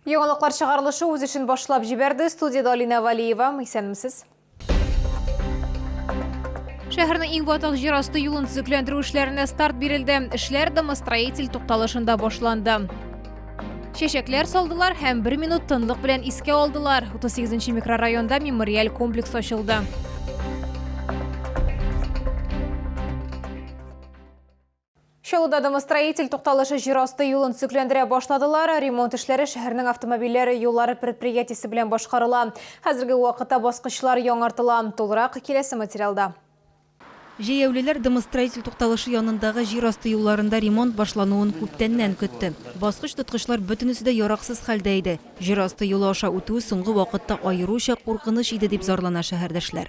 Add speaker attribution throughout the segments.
Speaker 1: Яңалыклар чыгарылышы үз эшен башлап җибәрде. Студиядә Алина Валиева. Исәнмесез. Шәһәрнең иң ватык җир асты юлын төзекләндерү эшләренә старт бирелде. Эшләр домостроитель тукталышында башланды. Чәчәкләр салдылар һәм бер минут тынлык белән искә алдылар. 38 микрорайонда мемориаль комплекс ачылды. Чаллыда домостроитель тукталышы җир асты юлын төзекләндерә башладылар. Ремонт эшләре шәһәрнең автомобильләр юллары предприятиесе белән башкарыла. Хәзерге вакытта баскычлар яңартыла. Тулырак киләсе материалда.
Speaker 2: Җәяүлеләр домостроитель тукталышы янындагы җир асты юлларында ремонт башлануын күптәннән көтте. Баскыч-тоткычлар бөтенесе дә яраксыз хәлдә иде. Җир асты юлы аша үтү соңгы вакытта аеруча куркыныч иде, дип зарлана шәһәрдәшләр.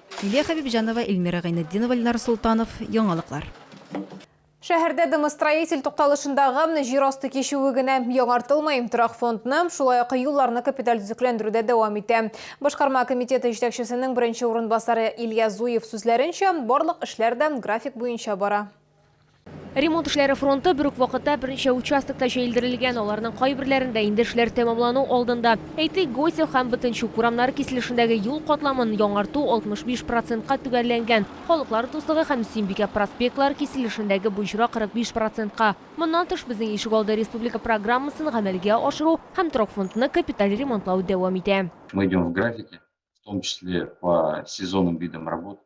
Speaker 2: Лилия Хәбибҗанова, Эльмира Гайнетдинова, Ленар Солтанов, Яңалыклар.
Speaker 1: Шәһәрдә домостроитель тукталышындагы җир асты кичүе генә яңартылмый, торак фондны, шулай ук юлларны капиталь төзекләндерү дә дәвам итә. Башкарма комитеты җитәкчесенең беренче урынбасары Илья Зуев сүзләренчә, барлык эшләр дә график буенча бара. Ремонт
Speaker 3: эшләре фронты бер үк вакытта берничә участокта җәелдерелгән, аларның кайберләрендә инде эшләр тәмамлану алдында. Әйтик, Госев һәм Бөтенчүк урамнары киселешендәге юл катламын яңарту 65 процентка төгәлләнгән, Халыклар дуслыгы һәм Сөембикә проспектлары киселешендәге боҗра 45 процентка. Моннан тыш, Безнең ишегалды республика программасын гамәлгә ашыру һәм торакфондны капиталь ремонтлау дәвам итә. Мы идем в графике,
Speaker 4: в том числе по сезонным видам работ.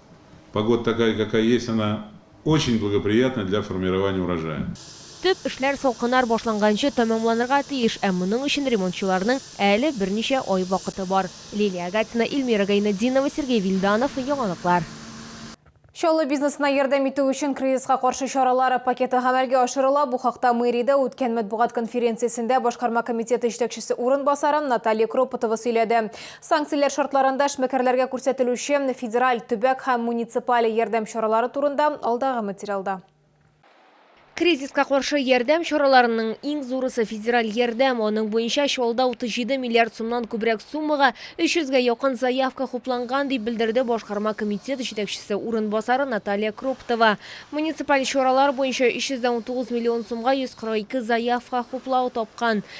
Speaker 5: Погода такая какая есть, она очень благоприятна для формирования урожая. Төп эшләр
Speaker 3: салкыннар башланганчы тәмамланырга тиеш, ә моның өчен ремонтчыларның әле берничә ай вакыты бар. Лилия Агатина, Ильмира Гайнетдинова, Сергей Вильданов, Яңалыклар.
Speaker 1: Чаллы бизнесына ярдәм итү өчен кризиска каршы чаралар пакеты гамәлгә ашырыла. Бу хакта мэриядә үткән матбугат конференциясендә башкарма комитеты җитәкчесе урынбасары Наталья Кропотова сөйләде. Санкцияләр шартларында эшмәкәрләргә күрсәтелүче федераль, төбәк һәм муниципаль ярдәм чаралары турында алдагы материалда.
Speaker 3: Кризиска каршы ярдәм чараларының иң зурысы, федераль ярдәм. Аның буенча Чаллыда 37 миллиард сумнан күбрәк суммага 300 гә якын заявка хупланган, дип белдерде башкарма комитет җитәкчесе урынбасары Наталья Кроптова. Муниципаль чаралар буенча 319 миллион сумга 142 заявка хуплау тапкан.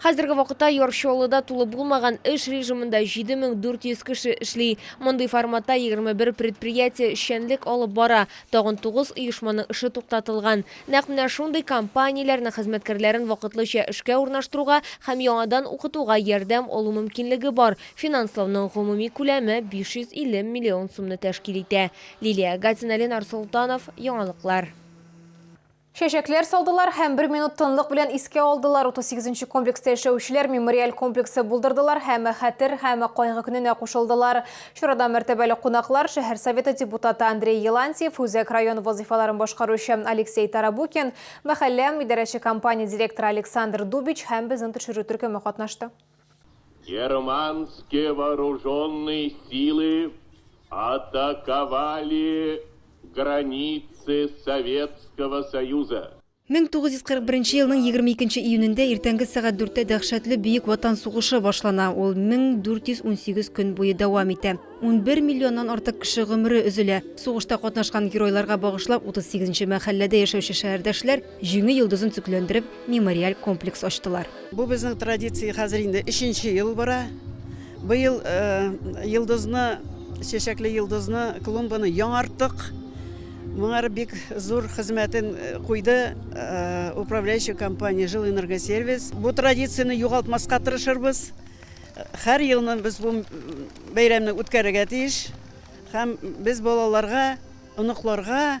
Speaker 6: Хәзерге
Speaker 3: вакытта Яр Чаллыда тулы булмаган эш режимында 7400 кеше эшли. Мондый форматта 21 предприятие эшчәнлек алып бара, тагын 9 оешманың эше туктатылган. Нәкъ менә шундый компанияләрнең хезмәткәрләрен вакытлыча эшкә урнаштыруга һәм яңадан укытуга ярдәм алу мөмкинлеге бар. Финанслауның гомуми күләме 550 миллион сумны тәшкил итә. Лилия Гатина, Ленар Солтанов, яңалыклар.
Speaker 1: Чәчәкләр салдылар һәм бер минут тынлык белән искә алдылар. 38 нче комплекста яшәүчеләр мемориаль комплексы булдырдылар һәм хәтер һәм кайгы көненә кушылдылар. Чарада мәртәбәле кунаклар, шәһәр советы депутаты Андрей Елантьев, үзәк район вазыйфаларын башкаручы Алексей Тарабукин, мәхәллә идарәче компания директоры Александр Дубич һәм безнең төшерү төркеме катнашты. Германские
Speaker 7: вооруженные силы атаковали границы Советского Союза.
Speaker 2: 1941 елның 22 июнендә иртәнге сәгать дүрттә дәһшәтле Бөек Ватан сугышы башлана. Ул 1418 көн буе дәвам итә. Унбер миллионнан артык кеше гомере өзелә. Сугышта катнашкан геройларга багышлап 38 нче мәхәлләдә яшәүче шәһәрдәшләр Җиңү йолдызын төкләндереп, мемориаль комплекс ачтылар. Бу безнең традиция
Speaker 8: хәзер инде өченче ел бара. Быел йолдызны, чәчәкле йолдызны, клумбаны яңарттык. Моңар бик зур хезмәтен куйды управляющий компания Жилэнергосервис. Бу традицияне югалтмаска тырышырбыз. Һәр елны без бу бәйрәмне үткәрергә тиеш. Һәм без балаларга, оныкларга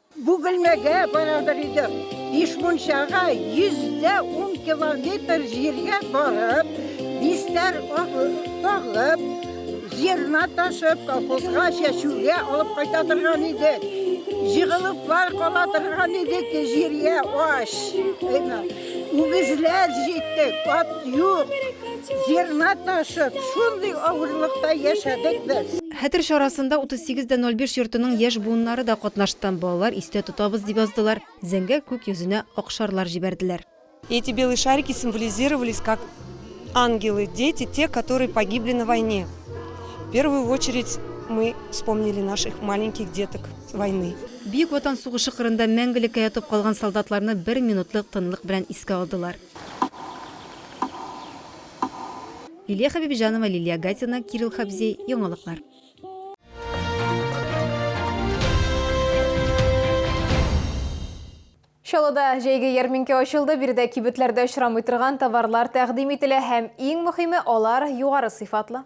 Speaker 2: Бөгелмәгә
Speaker 9: барадыр идем. Ишмунчага 110 километр җиргә барып, бистәр агып, зерна ташып, колхозга чәчүгә алып кайта торган идек. Җыгылыплар кала торган идек җиргә ач. Үгезләр җиттек, ат юк. Зерна ташып, шундый авырлыкта яшәдек без. Хәтер чарасында
Speaker 2: 38 дә 05 йортының яшь буыннары да катнашты. Балалар истә тотабыз дип яздылар, зәңгәр күк йөзенә ак шарлар җибәрделәр. Эти белые
Speaker 10: шарики символизировались как ангелы, дети, те, которые погибли на войне. В первую очередь мы вспомнили наших маленьких деток войны. Бөек Ватан
Speaker 2: сугышы кырында мәңгелеккә ятып калган солдатларны бер минутлык тынлык белән искә алдылар. Лилия Хәбибҗанова, Лилия Гатина, Кирилл Хабзей, Яңалыклар.
Speaker 1: Чаллыда җәйге ярминкә ачылды, биредә кибетләрдә очрамый торган товарлар тәкъдим ителә һәм иң мөхиме, алар югары сыйфатлы.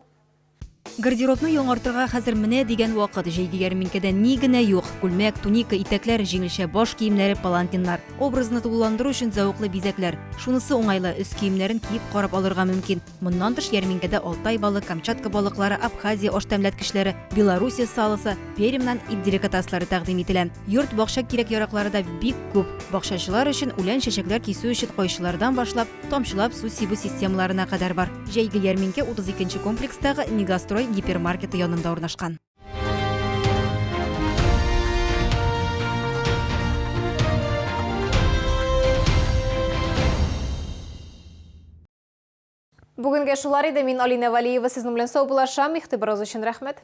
Speaker 1: Гардеробны
Speaker 2: яңартырга хәзер менә дигән вакыт. Җәйге ярминкәдә ни генә юк. Күлмәк, туника, итәкләр, җиңелчә баш киемнәре, палантиннар. Образны тулыландыру өчен зәвыклы бизәкләр. Шунысы уңайлы, өс киемнәрен киеп карап алырга мөмкин. Моннан тыш ярминкәдә Алтай балы, Камчатка балыклары, Абхазия аштәмләткечләре, Белоруссия салосы, Пермьнан ит деликатаслары тәкъдим ителә. Йорт-бакча кирәк-яраклары да бик күп. Бакчачылар өчен, үлән-чәчәкләр кисү өчен кайчылардан башлап, тамчылап су сибү системаларына кадәр бар. Җәйге ярминкә 32 нче комплекстагы Мегастрой гипермаркеты янында урнашкан.
Speaker 1: Бүгенге шулар иде. Мин Алина Валиева сезнең белән сау булашам. Игътибарыгыз өчен рәхмәт.